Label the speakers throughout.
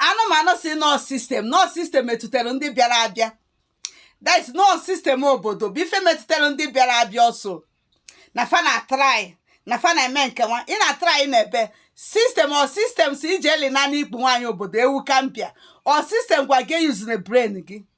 Speaker 1: anụ m anụ sị na ọ system na ọ system metụtara ndị bịara abịa that is na ọ system obodo bụ ife metụtara ndị bịara abịa ọ sọ na fa na-atry na fa na-eme nke nwa ị na-atry na-ebe system ọ system sị ị jee lina n'ikpu nwaanyị obodo ewu gambia ọ system gwa gị eyuzina brain gị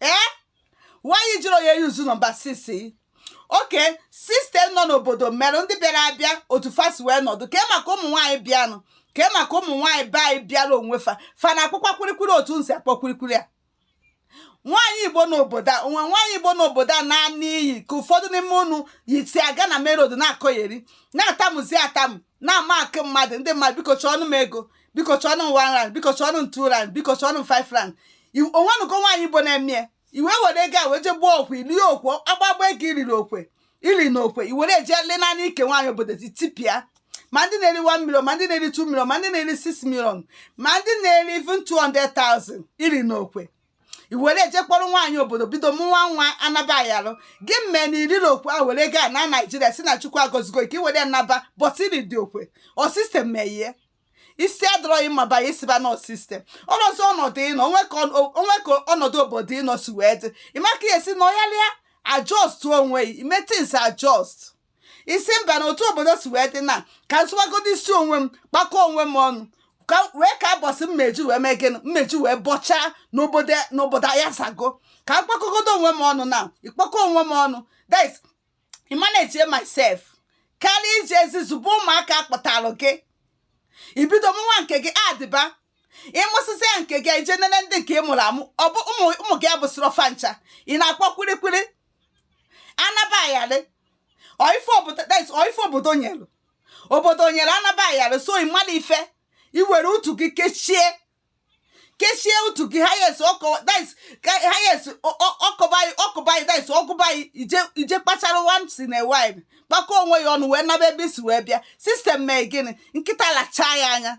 Speaker 1: ee why ị jirọ wee yuzu nọmba six okay system nọ n'obodo mere ndị bịara abịa otu fa si wee nọdụ kee maka ụmụ nwaanyị bịanụ kee maka ụmụ nwaanyị be anyị bịara onwe fa fa na-akpọkwa kwirikwiri otu unu si akpọ kwirikwiri a nwaanyị igbo n'obodo a o nwe nwaanyị igbo n'obodo a na-ana iyi ka ụfọdụ n'ime unu si aga na main road na-akọgheri na-atamuzi atamu na-amakụ mmadụ ndị mmadụ biko chọọnụ m ego biko chọọnụ m one rand biko chọọnụ m two rand biko chọọnụ m five rand o nwenugo nwaanyị igbo na-eme ya i wee were ego a wee jee gbuo okwe i lie okwe agbagba ego i riri okwe i li na okwe i were jee lina n'ike nwaanyị obodo ti tipịa ma ndị na-eri 1 million ma ndị na-eri 2 million ma ndị na-eri 6 million ma ndị na-eri even 200,000 i ri na okwe i were jee kpọrọ nwaanyị obodo bido mụwa nwa anaba ayalụ gị mee na i riri okwe i were ego naa naijiria si na chukwu agọzigo ka i were naba but i ridị okwe ọ system meyie isi adọrọ gị mma banye ị sịba na ọ system ọrọzi ọnọdụ ị nọ o nwe ka ọ- o nwe ka ọnọdụ obodo ị nọ si wee dị ị ma ka ị ya-esi na ọyalịa adjust onwe ya ime things adjust ị sị mba na otu obodo si wee dị na ka m zọwagodo isi onwe m kpakọ onwe m ọnụ ka wee kaa ụbọsị m me-eji wee mee gịnị m me-eji wee bọchaa n'obodo n'obodo a yasago ka m kpakọgodo onwe m ọnụ na ịkpakọ onwe m ọnụ that is manage myself karịa ị jeezi zụba ụmụaka a kpọtalụ gị i bido mụnwa nke gị adịba ị mụsịsịa nke gị ị jee nene ndị nke ị mụrụ amụ ọ bụ ụmụ gị abụsịrọ fa ncha ị na-akpọ kwirikwiri anaba ayalị ọ ife obodo that is ọ ife obodo nyere obodo nyere anaba ayalị so ị mala ife i were utu gị kechie kechie utu gị ha yes ọ kọwa that is ka- ha yes ọ- ọ- ọ kọba gị ọ kọba gị that is ọ gụba gị ị jee ị jee kpachara once in a while kpakọ onwe ya ọnụ wee naba ebe i si wee bịa system mee gịnị nkịta lachaa ya anya